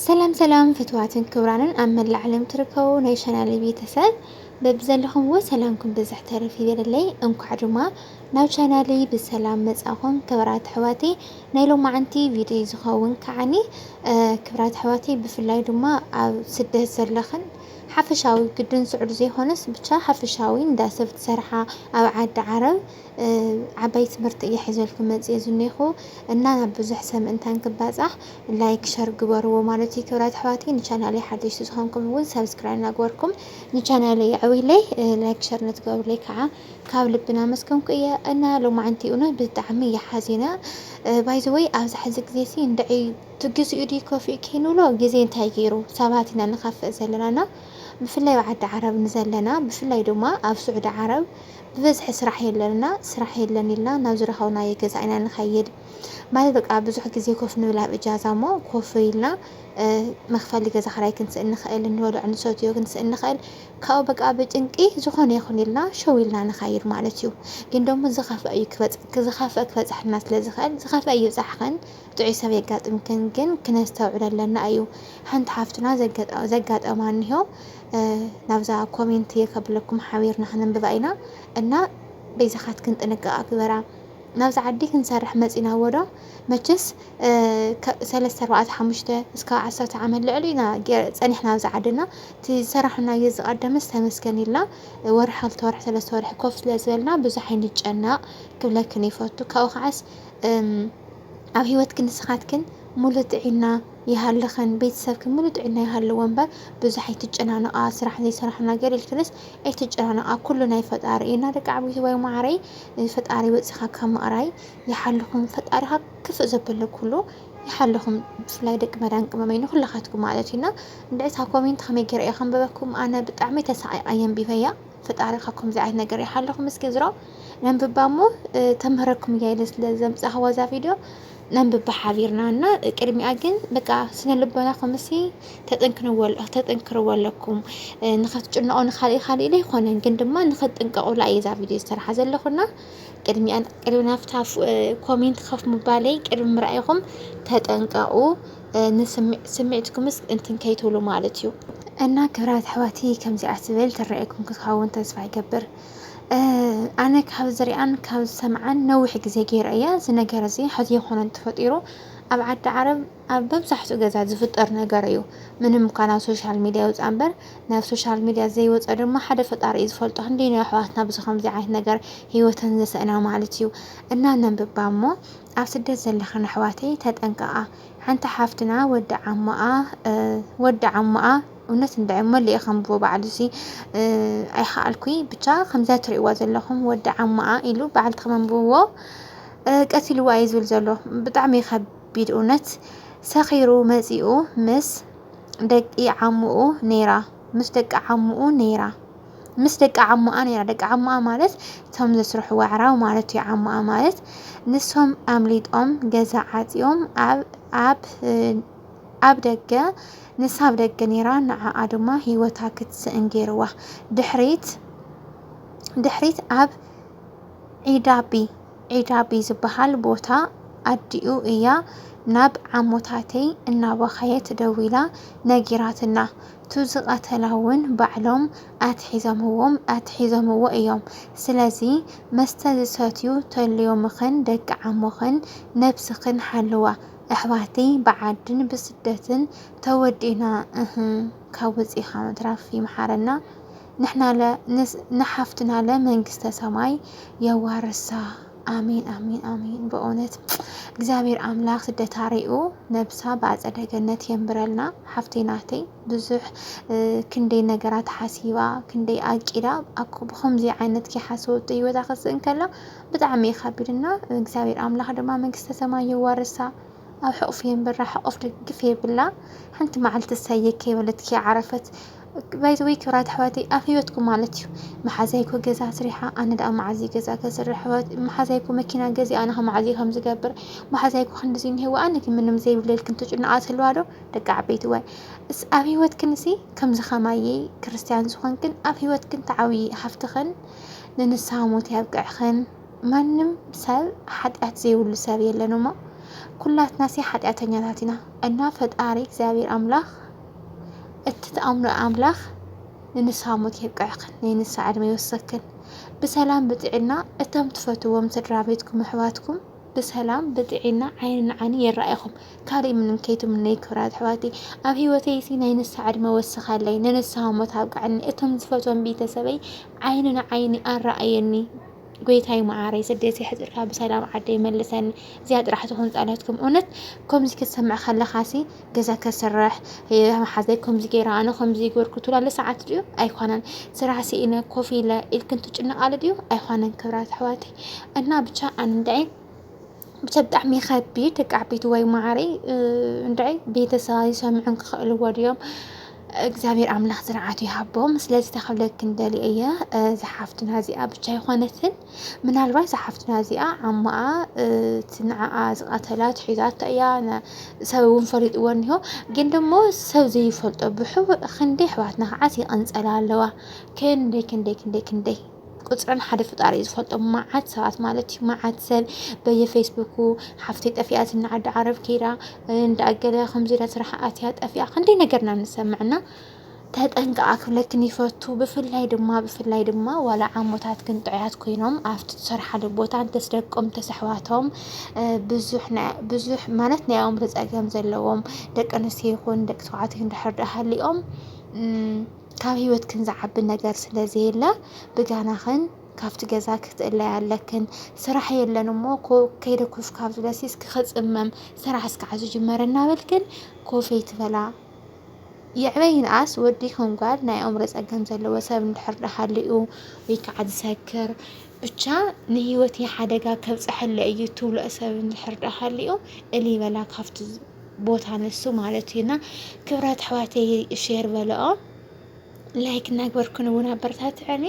ሰላም ሰላም ፍትዋትን ክብራንን ኣብ መላእ ዓለም ትርከቡ ናይ ቻናል ቤተሰብ በብዘለኹምዎ ሰላምኩም ብዝሕ ተረፍ ይበለለይ። እንኳዕ ድማ ናብ ቻናለይ ብሰላም መጻኹም ክብራት ኣሕዋተይ። ናይ ሎማዓንቲ ቪድዮ ዝኸውን ከዓኒ ክብራት ኣሕዋተይ ብፍላይ ድማ ኣብ ስደት ዘለኽን ሓፈሻዊ ግድን ስዑድ ዘይኮነስ ብቻ ሓፈሻዊ እንዳሰብ ትሰርሓ ኣብ ዓዲ ዓረብ ዓባይ ትምህርቲ እየ ሒዘልኩም መፅየ ዝኔኹ እና ናብ ብዙሕ ሰብ ምእንታን ክባፃሕ ላይክ ሸር ግበርዎ ማለት እዩ ክብራት ኣሕዋትይ ንቻናለይ ሓደሽቲ ዝኾንኩም እውን ሳብስክራይብ ናግበርኩም ንቻናለይ የዕብይለይ ላይክ ሸር ነትገብርለይ ከዓ ካብ ልቢ ናመስገንኩ እየ እና ሎማዓንቲ እውነት ብጣዕሚ እየ ሓዚነ ባይዘወይ ኣብዚ ሕዚ ግዜ ሲ እንድዒ ትግዝኡ ድዩ ከፊኡ ከይንብሎ ግዜ እንታይ ገይሩ ሰባት ኢና ንኸፍእ ዘለና እና ብፍላይ ኣብ ዓዲ ዓረብ ንዘለና ብፍላይ ድማ ኣብ ስዑዲ ዓረብ ብበዝሒ ስራሕ የለን እና ስራሕ የለን ኢልና ናብ ዝረኸብናዮ ገዛ ኢና ንኸይድ ማለት በቃ ብዙሕ ግዜ ኮፍ ንብል ኣብ እጃዛ እሞ ኮፍ ኢልና መኽፈሊ ገዛ ክራይ ክንስእን ንኽእል እንበልዖ ንሰትዮ ክንስእን ንኽእል ካብኡ በቃ ብጭንቂ ዝኾነ ይኹን ኢልና ሸው ኢልና ንኸይድ ማለት እዩ ግን ደሞ ዝኸፍአ እዩ ክበጽ ዝኸፍአ ክበጽሐና ስለ ዝኽእል ዝኸፍአ ይብጻሕኽን ጥዑይ ሰብ የጋጥምክን ግን ክነስተውዕል ኣለና እዩ ሓንቲ ሓፍትና ዘጋጠማ እኒሆ ናብዛ ኮሜንት እየ ከብለኩም ሓቢርና ከነንብባ ኢና እና በይዛካትክን ጥንቃቀ ግበራ ናብዛ ዓዲ ክንሰርሕ መፂና እዎ ዶ መቸስ ካብ ሰለስተ ኣርባዕተ ሓሙሽተ እስካብ ዓሰርተ ዓመት ልዕሊ ኢና ፀኒሕና ኣብዚ ዓዲ እና እቲ ዝሰራሕናዮ ዝቀደመስ ተመስገን ኢልና ወርሒ ክልተ ወርሒ ሰለስተ ወርሒ ኮፍ ስለ ዝበልና ብዙሕ ኣይንጨነቅ ክብለክን ይፈቱ ካብኡ ከዓስ ኣብ ሂወትክን ንስካትክን ሙሉእ ጥዒና ይሃልኽን ቤተሰብክን ምሉእ ጥዕና ይሃልዎ እምበር ብዙሕ ኣይትጨናነቓ ስራሕ ዘይሰራሕና ገር ኢልክንስ ኣይትጨናነቓ ኩሉ ናይ ፈጣሪ እዩ እና ደቂ ዓብይትዋይ ማዓረይ ፈጣሪ ወፂኻ ካብ ምቕራይ ይሓልኹም ፈጣሪ ካብ ክፍእ ዘበለ ኩሉ ይሓልኹም ብፍላይ ደቂ መዳን ቅመመይ ንኹላኻትኩም ማለት እዩ እና እንድዒ እታ ኮሜንት ከመይ ገይረ እየ ከንበበኩም ኣነ ብጣዕሚ ተሳቒቓ የንቢበያ ፈጣሪ ካብ ከምዚ ዓይነት ነገር ይሓልኹም እስኪ ዝሮ ነንብባ እሞ ተምህረኩም እያ ኢለ ስለ ዘምፃእኽዋ እዛ ቪድዮ ነንብባ ሓቢርና እና ቅድሚኣ ግን በቃ ስነልቦናኹምሲ ተጠንክርዎ ኣለኩም ንኸትጭነቑ ንኻልእ ካልእ ኢለ ኣይኮነን ግን ድማ ንኸትጥንቀቑላ እየ እዛ ቪድዮ ዝሰርሓ ዘለኹና ቅድሚኣ ቅድሚ ናብታ ኮሜንት ከፍ ምባለይ ቅድሚ ምርኣይኹም ተጠንቀቑ ንስምዒትኩምስ እንትን ከይትብሉ ማለት እዩ እና ክብራት ኣሕዋተይ ከምዚኣ ትብል ትረኣየኩም ክትኸውን ተስፋ ይገብር ኣነ ካብ ዝሪኣን ካብ ዝሰምዓን ነዊሕ ግዜ ገይረ እየ። እዚ ነገር እዚ ሕዚ ኣይኮነን ተፈጢሩ ኣብ ዓዲ ዓረብ ኣብ መብዛሕትኡ ገዛ ዝፍጠር ነገር እዩ። ምንም እኳ ናብ ሶሻል ሚድያ ይውፃ እምበር ናብ ሶሻል ሚድያ ዘይወፀ ድማ ሓደ ፈጣሪ እዩ ዝፈልጦ። ክንደይ ናይ ኣሕዋትና ብዚ ከምዚ ዓይነት ነገር ሂወተን ዘስእና ማለት እዩ እና ነንብባ እሞ ኣብ ስደት ዘለኽን ኣሕዋተይ ተጠንቀቓ። ሓንቲ ሓፍትና ወዲ ዓሞኣ ወዲ ዓሞኣ እውነት እንድዒ እሞ እለ ከንብቦ ባዕሉሲ ኣይኸኣልኩይ ብቻ ከምዛ ትሪእዋ ዘለኹም ወዲ ዓማኣ ኢሉ በዓል ተመንብዎ ቀቲልዋ እዩ ዝብል ዘሎ ብጣዕሚ ከቢድ እውነት ሰኺሩ መፂኡ ምስ ደቂ ዓሙኡ ነይራ ምስ ደቂ ዓሙኡ ነይራ ምስ ደቂ ዓሙኣ ነይራ ደቂ ዓሙኣ ማለት እቶም ዘስርሕዎ ኣዕራብ ማለት እዩ ዓሙኣ ማለት ንሶም ኣምሊጦም ገዛ ዓፅዮም ኣብ ኣብ ደገ ንሳ ኣብ ደገ ኔራ ንዓኣ ድማ ሂወታ ክትስእን ጌርዋ ድሕሪት ድሕሪት ኣብ ዒዳቢ ዒዳቢ ዝብሃል ቦታ ኣዲኡ እያ ናብ ዓሞታተይ እናበኸየት ደዊላ ነጊራትና ቱ ዝቀተላ ውን ባዕሎም ኣትሒዘምዎም ኣትሒዘምዎ እዮም ስለዚ መስተ ዝሰትዩ ተልዮምኽን ደቂ ዓሞኽን ነብስኽን ሓልዋ ኣሕዋተይ ብዓድን ብስደትን ተወዲእና እህ ካብ ወፂእኻ ምትራፍ ይምሓረና ንሕናለ ንሓፍትናለ መንግስተ ሰማይ የዋርሳ ኣሜን ኣሜን ኣሜን በእውነት እግዚኣብሔር ኣምላክ ስደታ ሪኡ ነብሳ ብኣፀደ ገነት የንብረልና ሓፍተይ ናተይ ብዙሕ ክንደይ ነገራት ሓሲባ ክንደይ ኣቂዳ ብከምዚ ዓይነት ከይሓሰወቶ ሂወታ ከስእን ከላ ብጣዕሚ እዩ ከቢድ እና እግዚኣብሔር ኣምላክ ድማ መንግስተ ሰማይ የዋርሳ ኣብ ሕቁፉ የንብራ ሕቁፍ ድግፍ የብላ ሓንቲ መዓልቲ እሰየ ከይበለትኪ ዓረፈት ባይዘወይ ክብራት ኣሕዋተይ ኣብ ህይወትኩም ማለት እዩ መሓዛይኮ ገዛ ስሪሓ ኣነ ደኣ መዓዝ እዩ ገዛ ከስርሕ መሓዛይኮ መኪና ገዚ ኣነ ከ መዓዝ እዩ ከም ዝገብር መሓዛይኮ ክንድዚ እንሄዎ ኣነ ግን ምንም ዘይብለልክን ትጭነቃ ትህልዋ ዶ ደቂ ዓበይቲ ዋይ እስ ኣብ ህይወትክን እሲ ከምዚ ከማየ ክርስትያን ዝኾንክን ኣብ ህይወትክን ተዓብዪ ሃፍትኽን ንንስሃ ሞት ያብቅዕኽን ማንም ሰብ ሓጢኣት ዘይብሉ ሰብ የለን እሞ ኩላትናሲ ሓጢኣተኛታት ኢና እና ፈጣሪ እግዚኣብሔር ኣምላኽ እቲ ትኣምኖ ኣምላኽ ንንስሃ ሞት የብቅዕኽን ናይ ንስሃ ዕድመ ይወሰክን ብሰላም ብጥዕና እቶም ትፈትዎም ስድራ ቤትኩም ኣሕዋትኩም ብሰላም ብጥዒና ዓይኒ ንዓይኒ የራኢኹም ካልእ ምንም ከይትምነይ ክብራት ኣሕዋተይ ኣብ ሂወተይሲ ናይ ንስሃ ዕድመ ወስኸለይ ንንስሃ ሞት ኣብቅዕኒ እቶም ዝፈትዎም ቤተሰበይ ዓይኒ ንዓይኒ ኣራኣየኒ ጎይታይ መዓረይ ስደት የሕፅርካ ብሰላም ዓደይ መልሰኒ እዚኣ ጥራሕ ትኹን ፃሎትኩም እውነት ከምዚ ክትሰምዕ ከለኻሲ ገዛ ከስርሕ መሓዘይ ከምዚ ገይራ ኣነ ከምዚ ይገርኩ ትብላለ ሰዓት ድዩ ኣይኮነን ስራሕ ስኢነ ኮፍ ኢለ ኢልክን ትጭነቃሉ ድዩ ኣይኮነን ክብራት ኣሕዋተይ እና ብቻ ኣንዳይ ብቻ ብጣዕሚ ይኸቢድ ደቂ ዓበይቲ ወይ ማዓረይ እንዳይ ቤተሰባ ይሰምዑን ክኽእልዎ ድዮም እግዚኣብሔር ኣምላኽ ዝርዓቱ ይሃቦም ስለዚ ተኽብለክ እንደል እየ ዝሓፍትና እዚኣ ብቻ ይኾነትን ምናልባት ዝሓፍትና እዚኣ ዓማኣ ትንዓኣ ዝቐተላ ትሒዛቶ እያ ሰብ እውን ፈሊጥዎ እኒሆ ግን ደሞ ሰብ ዘይፈልጦ ብሕቡእ ክንደይ ኣሕዋትና ከዓስ ይቐንፀላ ኣለዋ ክንደይ ክንደይ ክንደይ ክንደይ ቁፅረን ሓደ ፍጣሪ እዩ ዝፈልጦ መዓት ሰባት ማለት እዩ መዓት ሰብ በየፌስቡኩ ሓፍተይ ጠፊኣት እናዓዲ ዓረብ ከይዳ እንዳኣገለ ከምዚ ኢላ ስራሕ ኣትያ ጠፊኣ ክንደይ ነገርና ንሰምዕና ተጠንቀቃ ክብለክን ይፈቱ ብፍላይ ድማ ብፍላይ ድማ ዋላ ዓሞታት ግን ጥዑያት ኮይኖም ኣብቲ ትሰርሓሉ ቦታ እንተስ ደቆም እንተስ ኣሕዋቶም ብዙሕ ናይ- ብዙሕ ማለት ናይ ኣእምሮ ፀገም ዘለዎም ደቂ ኣንስትዮ ይኹን ደቂ ተባዕትዮ እንድሕር ድኣ ሃሊኦም እም፣ ካብ ህይወትክን ዝዓቢ ነገር ስለ ዘየለ ብጋናኽን ካብቲ ገዛ ክትእለያ ኣለክን ስራሕ የለን እሞ ከይደ ኮፍ ካብ ዝበሲ እስኪ ክፅመም ስራሕ እስኪ ዓዙ ጅመር እናበልክን ኮፈይ ትበላ የዕበይንኣስ ወዲ ይኹን ጓል ናይ ኣእምሮ ጸገም ዘለዎ ሰብ እንድሕር ደሃልኡ ወይ ከዓ ዝሰክር ብቻ ንህይወት ሓደጋ ከብፀሐለ እዩ ትብልኦ ሰብ እንድሕር ደሃልኡ እልይ በላ ካብቲ ቦታ ንሱ ማለት እዩ እና ክብራት ኣሕዋተይ ሼር በልኦ ላይክ እናግበርኩን እውን ኣበረታትዐኒ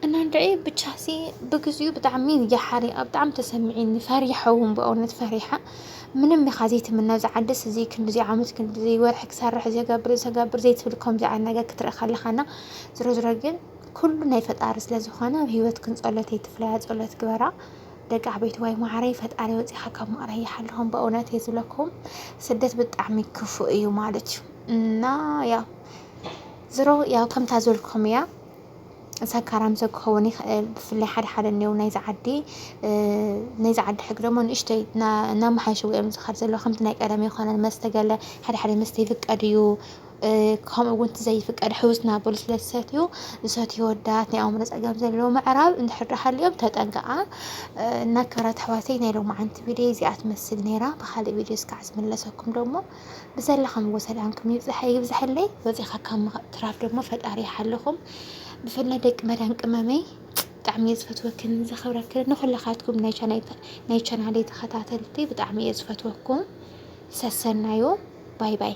እና ንድዒ ብቻ ሲ ብግዚኡ ብጣዕሚ የሓሪቐ ብጣዕሚ ተሰሚዒኒ ፈሪሓ እውን ብእውነት ፈሪሓ ምንም ኢኻ ዘይትምነ እዚ ዓድስ እዚ ክንዲዚ ዓመት ክንዲዚ ወርሒ ክሰርሕ ዘገብር ዘገብር ዘይትብል ከምዚ ዓይነት ነገር ክትርኢ ከለኻ እና ዝሮ ዝሮ ግን ኩሉ ናይ ፈጣሪ ስለ ዝኾነ ኣብ ሂወት ክንፀሎት ኣይትፍለያ ፀሎት ግበራ ደቂ ዓበይትዋይ ማዓረይ ፈጣሪ ወፂኻ ካብ መቕረይ ይሓልኹም በእውነት እየ ዝብለኩም ስደት ብጣዕሚ ክፉእ እዩ ማለት እዩ እና ያው ዝሮ ያው ከምታ ዝበልኩም እያ ሰካራም ሰብ ክኸውን ይኽእል ብፍላይ ሓደ ሓደ እኒው ናይዚ ዓዲ ናይዚ ዓዲ ሕግ ደሞ ንእሽተይ እናመሓየሽዎ እዮም ዝኸድ ዘሎ ከምቲ ናይ ቀደም ይኮነን መስተ ገለ ሓደ ሓደ መስተ ይፍቀድ እዩ ከምኡ እውን እቲ ዘይፍቀድ ሕውስ ናብ በሉ ስለ ዝሰትዩ ዝሰትዩ ወዳት ናይ ኣእምሮ ፀገም ዘለዎ ምዕራብ እንድሕር ዶ ሃልዮም ተጠንቀቓ እና ክብራት ኣሕዋተይ ናይ ሎማዓንቲ ቪድዮ እዚኣ ትመስል ነይራ ብካልእ ቪድዮ እስካዕ ዝምለሰኩም ደሞ ብዘለኸምዎ ሰላምኩም ይብዛሕ ይብዛሕለይ ወፂኻ ካብ ምትራፍ ደሞ ፈጣሪ ይሓልኹም ብፍላይ ደቂ መዳን ቅመመይ ብጣዕሚ እየ ዝፈትወክን ዘኽብረክን ንኹላኻትኩም ናይ ቻናለይ ተኸታተልቲ ብጣዕሚ እየ ዝፈትወኩም። ሰሰናዩ ባይ ባይ